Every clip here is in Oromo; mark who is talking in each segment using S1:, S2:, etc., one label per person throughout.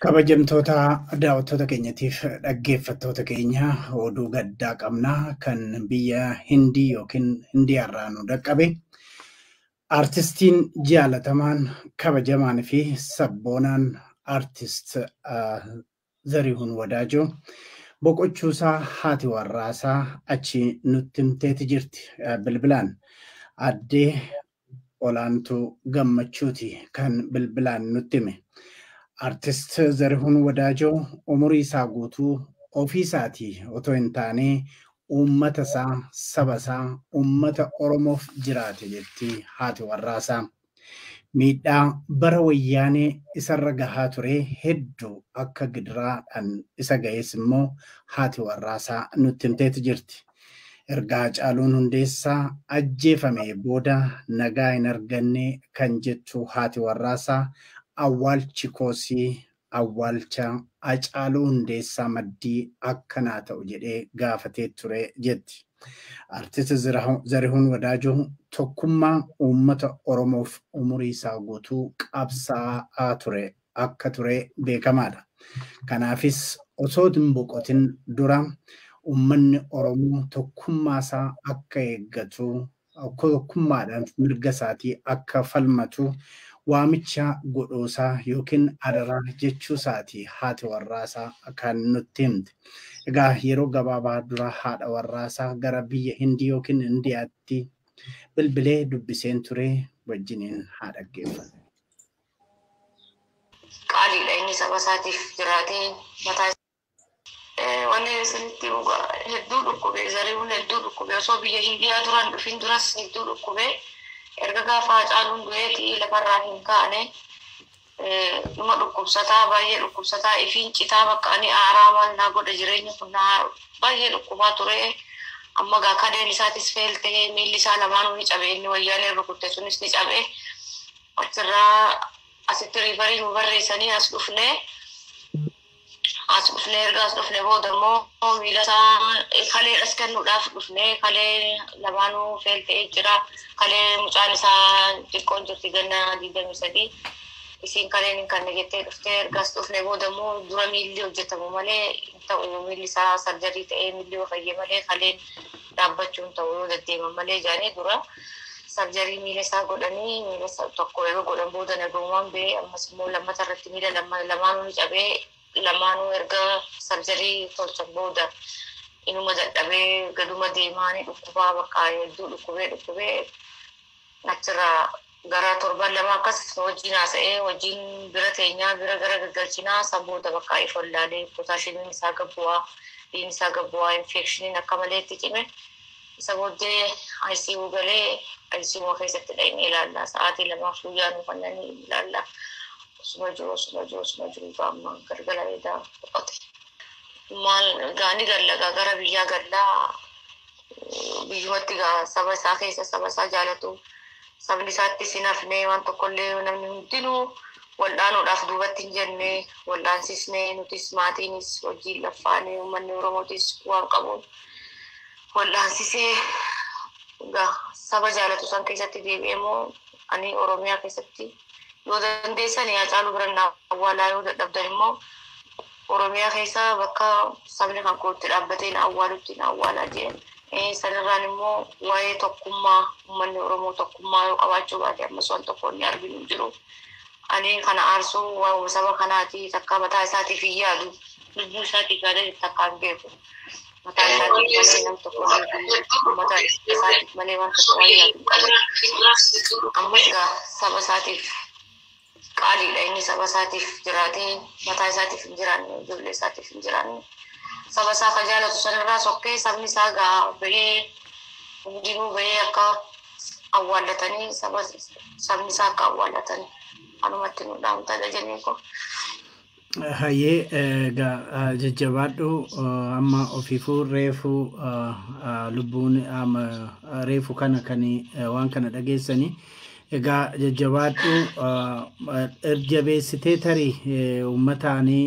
S1: Kabajamtoota daawwattoota keenyatiif dhaggeeffattoota keenya oduu gaddaa qabna kan biyya Hindii yookiin Hindiyaarraa nu dhaqqabe. Artistiin jaalatamaan kabajamaan fi sabboonaan artist Zarihun Wadaajoo boqochuusaa haati warraasaa achi nutti himteeti jirti bilbilaan. Aadde Olaantuu Gammachuuti kan bilbilaan nutti hime. Artist Zarihun Wadaajoo umuriisaa guutuu ofiisaatii otoo hin taanee uummatasaa, sabasaa, uummata Oromoof jiraate jetti haati warraasaa. Miidhaa bara wayyaanee isarra gahaa ture heddu akka gidiraa dhan isa gahes immoo haati warraasaa nutti himteeti jirti. Erga Hacaaluun Hundeessaa ajjeefamee booda nagaa hin arganne kan jettu haati warraasaa awwaalchi koosii Awwaalcha Hacaaluu Hundeessaa maddii akka naa ta'u jedhee gaafatee ture jetti. Artist Zarihuun Wadaajoo tokkummaa uummata Oromoof umurii isaa guutuu qabsaa'aa ture akka ture beekamaadha. Kanaafis osoo hin boqotin dura uummanni Oromoo tokkummaa isaa akka eeggatu tokkummaadhaan mirga isaatii akka falmatu waamicha godhuusaa yookiin adaraa jechuusaati haati warraasaa kan nutti himte. Egaa yeroo gabaabaa dura haadha warraasaa gara biyya Hindii yookiin Indiyaatti bilbilee dubbiseen ture wajjiniin haa dhaggeeffannu.
S2: Qaaliidha inni saba isaatiif jiraatee mataa Wanni isinitti himu gaa hedduu dhukkube zarihuun hedduu dhukkube osoo biyya Hindiyaa duraan dhufin duras hedduu dhukkube erga gaafa Hacaaluun du'eeti lafarraa hin kaane dhuma dhukkubsataa baay'ee dhukkubsataa ifiin citaa bakka ani aaraa maal naa godha jireenya kun naa baay'ee dhukkubaa ture amma gaa kadeen isaatis feel ta'ee miilli isaa lamaanuu ni cabe inni wayyaaneen rukutte sunis ni cabe achirraa asitti riifarii nu barreessanii as dhufnee As dhufne erga as dhufne booda immoo miila isaa kaleedhas kennuudhaaf dhufne kalee lamaanuu feel ta'ee jira. Kalee mucaan isaa xiqqoon jirti ganna digdamii sadii. Isiin kaleen hin kanne jettee dhufte erga as dhufne booda immoo dura miilli hojjetamu malee hin ta'u miilli isaa sarjarii ta'ee miilli yoo fayye malee kaleen dhaabbachuun ta'u yoo deddeeman malee jedhanii dura sarjarii miila isaa godhanii miila isaa tokko erga godhan booda nagaumaan ba'ee ammas immoo lammata irratti miila lama- lamaanuu ni cabee lamaanuu erga sarjarii tolchan booda inuma dadhabee gaduma deemaa ni dhukkubaa bakka hedduu dhukkubee dhukkubee Achirraa gara torban lama akkas wajjin haasa'ee wajjin bira teenyaa bira gara gaggalchinaa san booda bakka if wallaalee pootaashiimiin isaa gad bu'aa dhiin isaa gad bu'aa infeekshiniin akka malee itti cime isa booddee ICU galee ICU keessatti dhaqnee ilaalla sa'aatii lamaaf guyyaa nu kannanii ilaalla osuma jiru osuma jiru osuma jiru gaamma galgala edaa boqote maal gaani gallagaa gara biyyaa gallaa biyyumatti egaa saba isaa keessa saba isaa jaalatu sabni isaatti sin hafnee waan tokkollee namni hundinuu wal'aanuudhaaf duubatti hin jenne wal'aansisnee nutis maatiinis hojiin laffaanee uummanni oromootis waan qabuun wal'aansisee egaa saba jaalatu san keessatti deebi'ee moo ani oromiyaa keessatti yoo dandeessan yaa caaluu biran awwaalaa yoo dadhabdan immoo Oromiyaa keessa bakka sabni kan koo itti dhaabbatee na awwaalutti na awwaalaa jeen. Sanirraan immoo waa'ee tokkummaa uummanni Oromoo tokkummaa yoo qabaachuu baate ammas waan tokko inni arginu hin jiru. Ani kana aarsuu waa'uma saba kanaati takka mataa isaatiif hin yaadu. Lubbuu isaatiif yaadee takka hin beeku. Mataa isaatiif malee nam tokko uummata isaatiif malee waan tokko waan yaadu hin qabu. Ammas egaa saba isaatiif qaaliidha inni saba isaatiif jiraatee mataa isaatiif hin jiraanne ijoollee isaatiif hin jiraanne saba isaa ka jaalatu sanirraa sokkee sabni isaa gaa bahee hundinuu bahee akka awwaallatanii saba sabni isaa akka awwaallatan anumatti nu dhaamtadha jennee koo. Hayyee
S1: egaa jajjabaadhu amma ofiifuu reefu lubbuun amma reefu kana kan waan kana dhageessani egaa jajjabaadhu erjabeessitee tarii uummataanii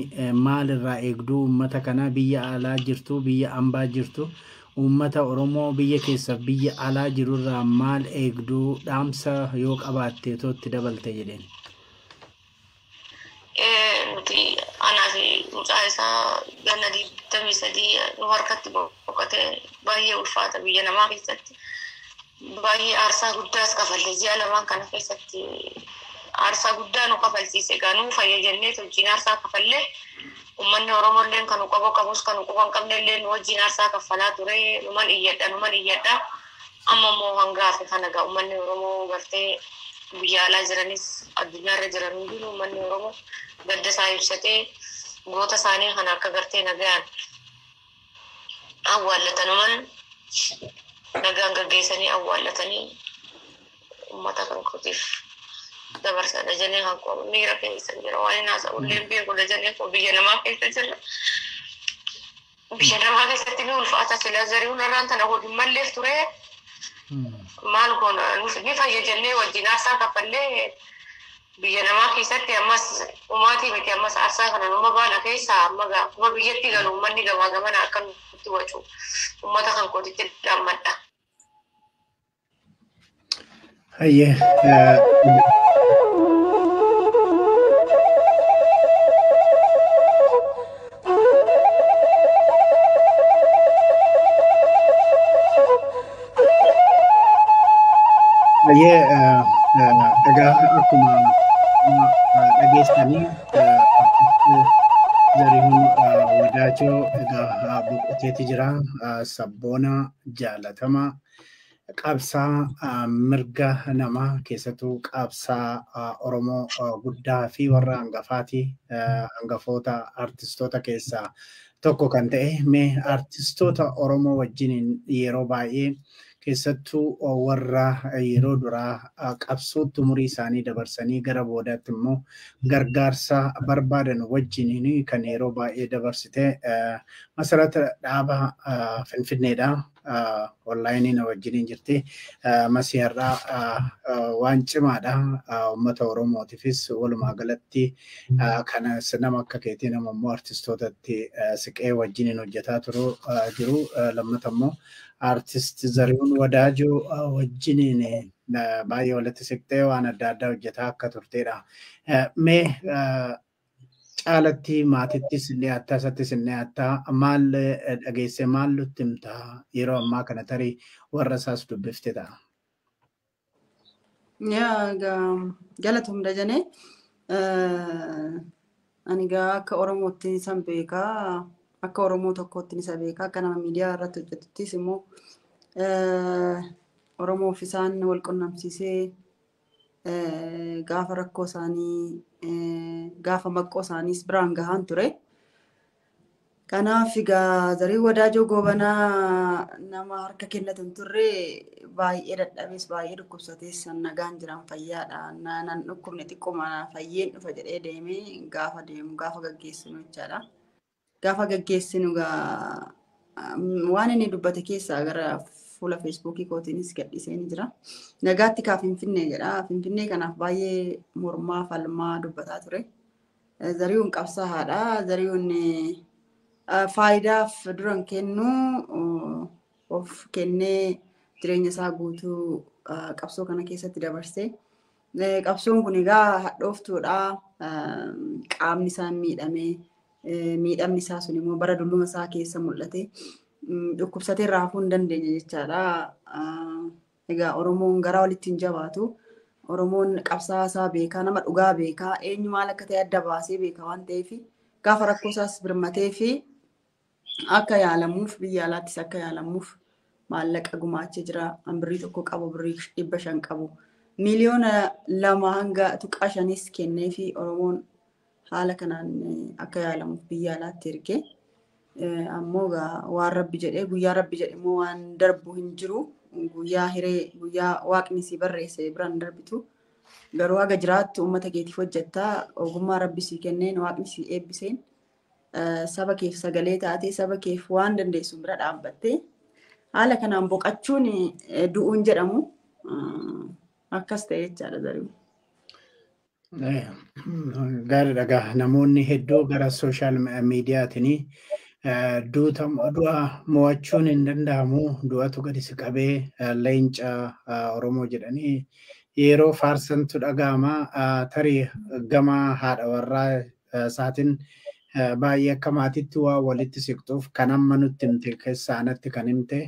S1: maal irraa eegduu uummata kanaa biyya alaa jirtu biyya ambaa jirtu uummata oromoo biyya keessa biyya alaa jiru irraa maal eegduu dhaamsa yoo qabaatte tootti dabalte jedheen. Nuti
S2: anaa fi mucaa isaa ganna digdamii sadii nu harkatti boqote baay'ee ulfaata biyya namaa keessatti. Baay'ee aarsaa guddaas kafalle ji'a lamaan kana keessatti aarsaa guddaa nu kafalchiise egaa nuu fayya jennee wajjin aarsaa kafalle ummanni Oromoo illee kan nu qaboo qabus kan nu quban qabne illee nu wajjin aarsaa kaffalaa ture numan iyyadha numan iyyadha. Amma immoo hanga har'a kana egaa uummanni Oromoo gartee biyya alaa jiranis addunyaa irra jiran hundinuu uummanni Oromoo gadda isaa ibsatee goota isaanii kana akka gartee nagayaan awwaallatanuman nagaan gaggeessanii awwaallatanii uummata kan kootiif dabarsa dajanee kan koo miira keessa jira waan hin haasa'ullee hin beeku dajanee koo biyya namaa keessa jira. Biyya namaa keessatti ni ulfaata sila zari'uun irraan tana godhu malleef ture maal goona Nus- ni fayya jennee wajjin aarsaa kaffallee biyya namaa keessatti ammas umaatii miti ammas aarsaa kana numa baana keessaa amma gaa- akkuma biyyatti galu ummanni gamaa gamana akka nutti wacu ummata kan kootitti dhammadha.
S1: Hayyee. Hayyee egaa akkuma dhageessanii Zarihuun Wadaajoo egaa boqoteeti jira. Sabboona jaalatamaa qabsaa mirga namaa keessattuu qabsaa Oromoo guddaa fi warra hangafaati hangafoota artistoota keessaa tokko kan ta'e mee artistoota Oromoo wajjiniin yeroo baay'ee keessattuu warra yeroo duraa qabsootti umurii isaanii dabarsanii gara boodaatti immoo gargaarsa barbaadan wajjiniin kan yeroo baay'ee dabarsite masarata dhaaba Finfinneedha. onlaayinii na wajjiniin jirti. Masii har'aa waan cimaadha. Uummata Oromootiifis walumaa galatti kana nama akka keetii nama immoo artistootatti siqee wajjiniin hojjetaa turu jiru. Lammata immoo artist Zarihuun Wadaajoo wajjiniin baay'ee walitti siqtee waan adda addaa hojjetaa akka turteedha. Mee Caalatti maatittis ni hattaa isattis ni hattaa maal dhageessee maal nutti himta yeroo ammaa kana tarii warra isaas dubbifte ta'a. Yaa
S3: ga- galatoom dajanee ani gaa akka oromootti isan beekaa akka oromoo tokkootti isa beekaa akka nama miidiyaa irratti hojjetuttis immoo eh, oromoof isaan wal qunnamsiisee gaafa rakkoo isaanii gaafa maqqoo isaaniis biraan gahaan ture. Kanaaf egaa zarii wadaajoo goobanaa nama harka kennatu hin turre baay'ee dadhabees baay'ee dhukkubsatees san nagaan jiran fayyaadha. Na- Nan dhukkubne xiqquma fayyeen dhufa jedhee deemee gaafa deemu gaafa gaggeessinu jechaadha. gaafa gaggeessinu gaa waan inni dubbate keessaa gara fuula feesbuukii kootiinis gadhiisee ni jira. Nagaatti kaa Finfinnee jedha. Finfinnee kanaaf baay'ee mormaa falmaa dubbataa ture. Zarihuun qabsaa haadha. Zarihuun faayidaaf duran kennu of kennee jireenya isaa guutuu qabsoo kana keessatti dabarsee Qabsoon kun egaa hadhooftuudha. Qaamni isaa miidhamee miidhamni isaa sun immoo bara dulluma isaa keessa mul'ate dhukkubsatee irraa hafuu hin dandeenye jechaadha. Egaa Oromoon gara walitti hin jabaatu. Oromoon qabsaa'aa isaa beekaa, nama dhugaa beekaa, eenyu maal akka ta'e adda baasee beeka waan ta'eef gaafa rakkoo isaas birmatee fi akka yaalamuuf biyya alaattis akka yaalamuuf maallaqa gumaachee jira. An birrii tokko qabu birrii dhibba shan qabu. Miliyoona lama hanga tuqaa shanis kennee fi Oromoon haala kanaan akka yaalamuuf biyya alaatti erge. Ammoo waan rabbi jedhee guyyaa rabbi jedhe immoo waan darbu hin jiru. Guyyaa hiree guyyaa waaqni si barreesse biraan darbitu. Garuu haga jiraattu uummata keetiif hojjetta. Ogummaa rabbi si kenneen waaqni si eebbiseen saba keef sagalee taatee saba keef waan dandeessu bira dhaabbattee haala kanaan boqachuun du'uun jedhamu akkas ta'e jechaadha zaruu.
S1: Gaariidha gaa namoonni hedduu gara sooshaal miidiyaatiin du'a mo'achuun hin danda'amu du'atu gadi si qabee leenca Oromoo jedhanii yeroo faarsantu dhaga'ama tarii gama haadha warraa isaatiin baay'ee akka maatiitti waa walitti siqxuuf kan amma nutti himte keessaa anatti kan himte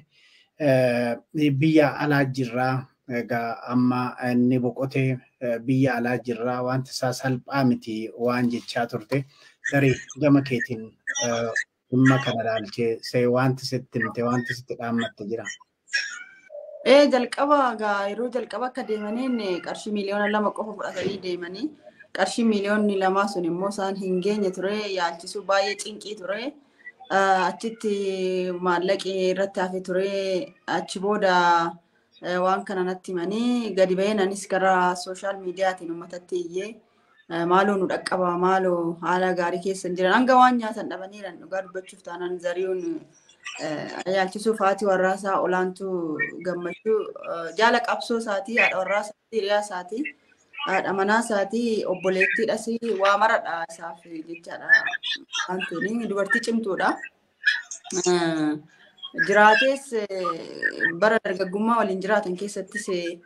S1: biyya alaa jirraa egaa amma inni boqotee biyya alaa jirraa wanti isaa salphaa miti waan jechaa turte tarii gama keetiin dhimma kana ilaalchee see wanti sitti himte wanti sitti dhaammatte jira. Ee jalqaba
S3: gaa yeroo jalqaba akka deemaniin qarshii miiliyoona lama qofa fudhatanii deemanii qarshii miiliyoonni lamaa sun immoo isaan hin geenye ture yaalchisuu baay'ee cinqii ture. Ah, Achitti maallaqi irratti hafe ture achi booda eh, waan kana natti himanii gadi ba'een anis gara sooshaal miidiyaatiin uummatatti iyyee Eh, Maaloo nu dhaqqabaa maaloo haala gaarii keessa hin jiran hanga waan nyaatan dhabaniiran dhugaa dubbachuuf taanaan zari'uun eh, yaalchisuuf haati warraasaa olaantuu gammachuu eh, jaala qabsoo isaatii haadha warraasaa hiriyaa isaatii haadha manaa isaatii obboleettiidhas waa maradha isaaf jechaadha waan ta'eef dubartii cimtuudha. Eh, jiraatees eh, bara dargaggummaa waliin jiraatan keessattis eh,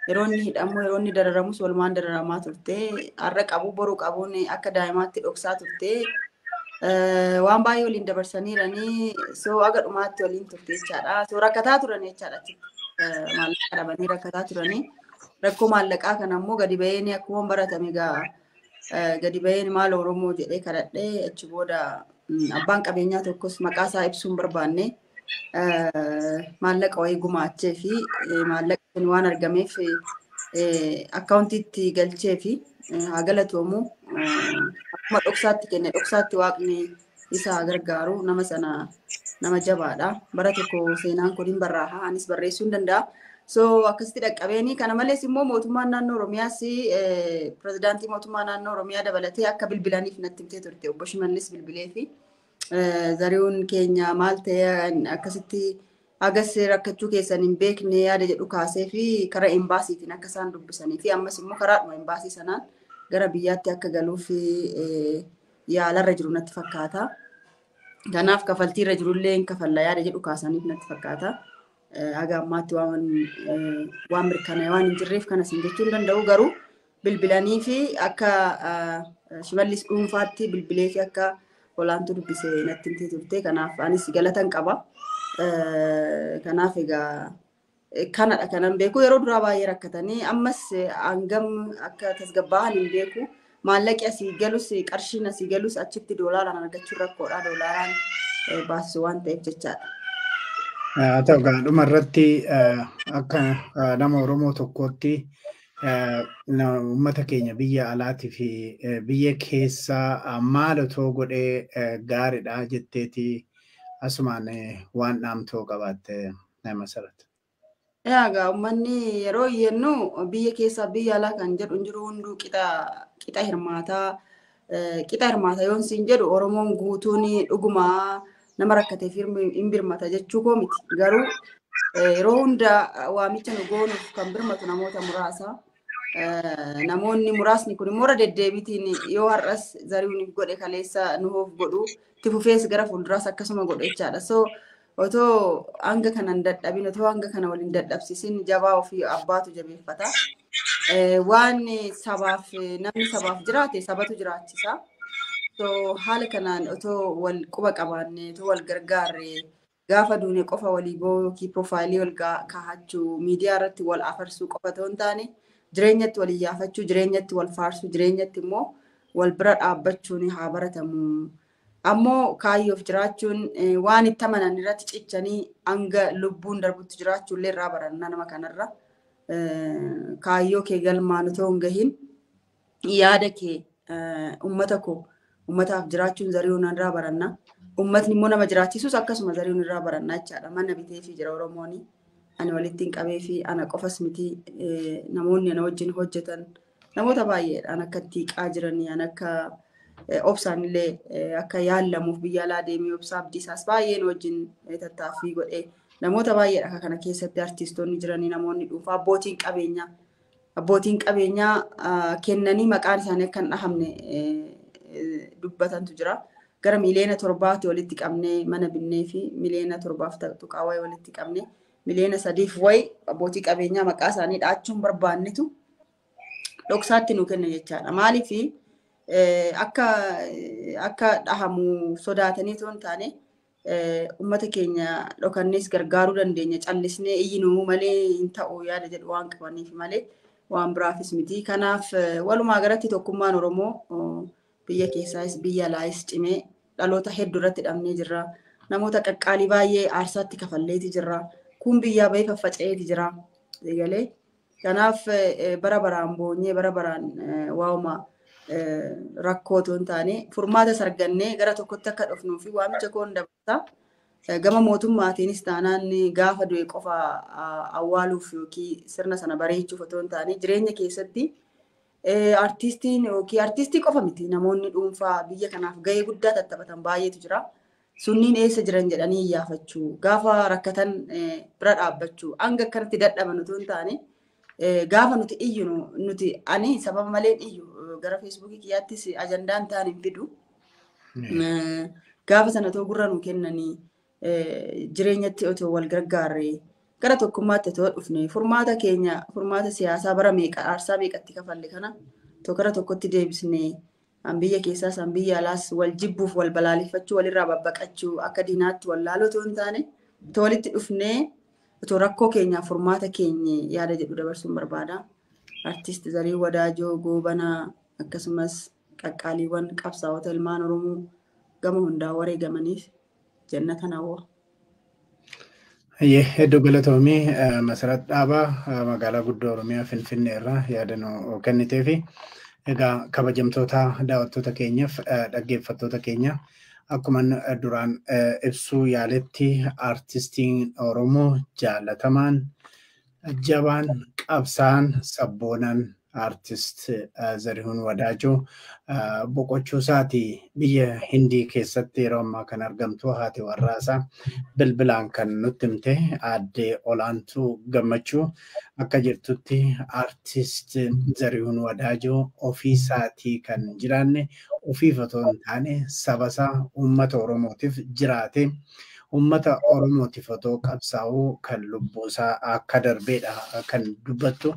S3: Yeroo inni hidhamu, yeroo inni dararamus walumaan dararamaa turte. Har'a qabu boru qabuun akka daa'imaatti dhoksaa turte. Waan baay'ee waliin dabarsaniiranii soo aga dhumaatti waliin turte jechaadha. Soo rakkataa turan jechaadha. Maallaqa dhabanii rakkataa turanii. Rakkoo maallaqaa kana immoo gadi ba'een akkuma baratame egaa gadi ba'een maal Oromoo jedhee kadhadhee achi booda abbaan qabeenyaa tokkos maqaa isaa ibsuun barbaanne. maallaqa wayii gumaachee fi maallaqa sun waan argameef akkaawuntiitti galchee fi haa galatoomu akkuma dhoksaatti kenne dhoksaatti waaqni isa haa gargaaru nama sana nama jabaadha bara tokko seenaan kun hin barraaha anis barreessuu hin danda'a. So akkasitti dhaqqabeeni kana malees immoo mootummaan naannoo Oromiyaas pirezidaantii mootummaa naannoo Oromiyaa dabalatee akka bilbilaniif natti himtee turte obbo Shimallis bilbilee fi zari'uun keenya maal ta'e akkasitti hagas rakkachuu keessan hin beekne yaada jedhu kaasee fi karaa embaasiitiin akka isaan dubbisanii fi ammas immoo karaadhuma embaasii sanaan gara biyyaatti akka galuuf yaalarra jiru natti fakkaata. Kanaaf kafaltiirra jirullee hin kafalla yaada jedhu kaasaniif natti fakkaata. Haga ammaatti waan mirkanaa'e waan hin jirreef kanas hin jechuu hin danda'u garuu bilbilanii fi akka shimallis dhuunfaatti bilbilee fi akka olaantuu dubbise natti himtee turte. Kanaaf anis galatan qaba. Kanaaf egaa kanadha kanan beeku. Yeroo duraa baay'ee rakkatanii ammas hangam akka tasgabbaa'an hin beeku. Maallaqi asii galus qarshiin asii galus achitti doolaaraan argachuun rakkoodha. Doolaaraan baasisu waan ta'eef jechaadha. Haa
S1: ta'u gaadhuma irratti akka nama Oromoo tokkootti Uummata keenya biyya alaatii fi biyya keessaa maal otoo godhee gaariidha jetteeti asumaan waan dhaamtoo qabaatte masarat. Egaa
S3: uummanni yeroo iyyannu biyya keessaa biyya alaa kan jedhu hin jiru hunduu qixa hirmaataa qixa hirmaata yoon siin jedhu Oromoon guutuun dhuguma nama rakkateef hin birmata jechuu koo miti. Garuu yeroo hunda waamicha nu goonuuf kan birmatu namoota muraasa. Namoonni muraasni kun immoo irra deddeebiitiin yoo har'as zari'uun godhe kaleessa nuuf godhu itti fufees gara fuulduraas akkasuma godhe jechaadha. So Otoo hanga kana hin dadhabin, otoo hanga kana wal hin dadhabsiisin jabaa ofii abbaatu jabeeffata. Eh, Waan sabaaf namni sabaaf jiraate sabatu jiraachisa. So haala kanaan otoo wal quba qabaanne, otoo wal gargaarre gaafa duune qofa walii boo'uu yookiin piroofaayilii wal gaa- kaahachuu, miidiyaa irratti wal afarsuu qofa otoo hin taane jireenyatti wal iyyaafachuu, jireenyatti wal faarsuu, jireenyatti immoo wal bira dhaabbachuun haa baratamu. Ammoo kaayyoof jiraachuun waan itti amanan irratti cichanii hanga lubbuun darbutti jiraachuullee irraa baranna nama kanarra. Kaayyoo kee galmaan otoo hin gahin yaada kee ummata koo ummataaf jiraachuun zari'uun irraa baranna. Ummatni immoo nama jiraachisus akkasuma zari'uun irraa baranna jechaadha. Mana biteefii jira Oromooni. Ani walittiin qabeefii ana qofas miti namoonni ana wajjin hojjetan Namoota baay'eedhaan akka itti hiqaa jiranii an akka eh, obsaan illee eh, akka yaallamuuf biyya alaa deemee obsaa abdiisaas baay'een wajjin eh, tattaaffii godhee namoota baay'eedha akka kana keessatti artiistoonni jiranii namoonni dhuunfaa abbootiin qabeenyaa abbootiin qabeenyaa ah, kennanii maqaan isaanii akka hin dhahamne eh, eh, dubbatantu jira. Gara miliyoona torbaatti walitti qabnee mana binnee fi miliyoona torbaaf tuqaa wayi walitti qabnee miliyoona sadiif wayi abbootii qabeenyaa maqaa isaanii dhaachuun barbaannetu dhoksaatti nu kenna jechaadha. Maaliif akka akka dhahamu sodaatanii osoo hin taane uummata keenya dhokannees gargaaruu dandeenya callisnee iyyinuu malee hin ta'u yaada jedhu waan qabaniif malee waan biraafis miti. Kanaaf walumaa galatti tokkummaan Oromoo biyya keessaas biyya alaayis cimee dhaloota hedduu irratti dhabnee jirra. Namoota qaqqaalii baay'ee aarsaatti kafalleeti jirra. Kun biyyaa bahee faffaca'eeti jira. Eegalee. Kanaaf bara baraan boonyee bara baraan waa'uma rakkoo otoo hin taane furmaatas argannee gara tokkotti akka dhufnuu fi waamicha koon dabarsa. Gama mootummaatiinis taanaan gaafa du'e qofa awwaaluuf yookiin sirna sana bareechuuf otoo hin taane jireenya keessatti artiistiin yookiin artiistii qofa miti namoonni dhuunfaa biyya kanaaf gahee guddaa tattaphatan baay'eetu jira. Sunniin eessa jiran jedhanii iyyaafachuu, gaafa rakkatan bira dhaabbachuu, hanga akkanatti dadhaban utuu hin taane gaafa nuti iyyu nuti ani sababa malee iyyu gara feesbuukii kiyyaattis ajandaan ta'an hin fidu. Gaafa sana otoo gurra nu kennanii jireenyatti otoo wal gargaarree gara tokkummaatti otoo dhufne furmaata keenya furmaata siyaasaa bara meeqa aarsaa meeqatti kafalle kana tokko gara tokkotti deebisnee An biyya keessaas an biyya alaas wal jibbuuf wal balaaleffachuu walirraa babbaqachuu akka diinaatti wal laaluu otoo hin taane otoo walitti dhufnee otoo rakkoo keenyaaf furmaata keenye yaada jedhu dabarsuun barbaada. Artiist Zarii Wadaajoo Goobanaa akkasumas qaqqaaliiwwan qabsaa'ota ilmaan Oromoo gama hundaa wareegamaniif jannatan hawwa. Hayyee
S1: hedduu galatoomii Masarat Dhaabaa magaalaa guddoo Oromiyaa Finfinnee irraa yaada nu kennitee fi egaa kabajamtoota daawwattoota keenyaaf dhaggeeffattoota keenya akkuma duraan ibsuu yaaletti aartistiin Oromoo jaalatamaan jabaan qabsaan sabboonaan Artist Zarihuun Wadaajoo boqochuu isaati biyya Hindii keessatti yeroo ammaa kan argamtu haati warraa isaa bilbilaan kan nutti himte aadde Olaantuu Gammachuu akka jirtutti artist Zarihuun Wadaajoo ofii isaatii kan hin jiraanne ofiif otoo hin taane saba isaa uummata Oromootiif jiraate Uummata Oromootiif otoo qabsaa'uu kan lubbuusaa akka darbeedha kan dubbattu.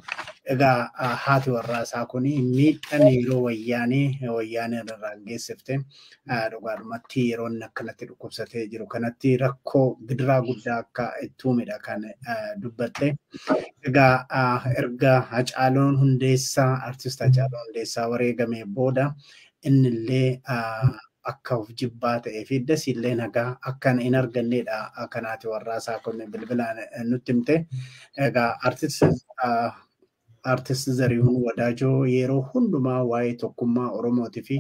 S1: Egaa haati warraasaa kun miidhaan yeroo wayyaanee wayyaaneen irraan geessifte dhugaadhumatti yeroo inni akkanatti dhukkubsatee jiru kanatti rakkoo gidiraa guddaa akka itti uumedha kan dubbatte. Egaa erga Hacaaluun Hundeessaa artist Hacaaluu Hundeessaa wareegamee booda innillee akka of jibbaa ta'ee fi dasii illee nagaa akkan hin arganneedha kan haati warraa isaa kun bilbilaan nutti himte. Egaa artist Zarihuun Wadaajoo yeroo hundumaa waa'ee tokkummaa Oromootii fi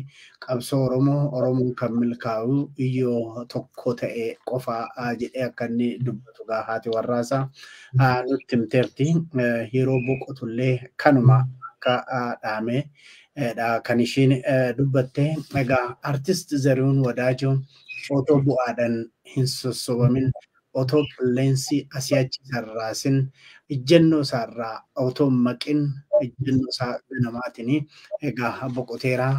S1: qabsoo Oromoo Oromoon kan milkaa'u yoo tokko ta'e qofaa jedhee akka inni dubbatu gaa haati warraa isaa nutti himteerti. Yeroo boqotullee kanuma akka dhaamee dha kan ishiin dubbatte. Egaa artist Zarihuun Wadaajoo otoo bu'aadhaan hin sossobamin, otoo qilleensi asii achi isa hin raasin, ijjannoo isaa irraa otoo hin maqin, ijjannoo isaa ganamaatiin egaa boqoteera.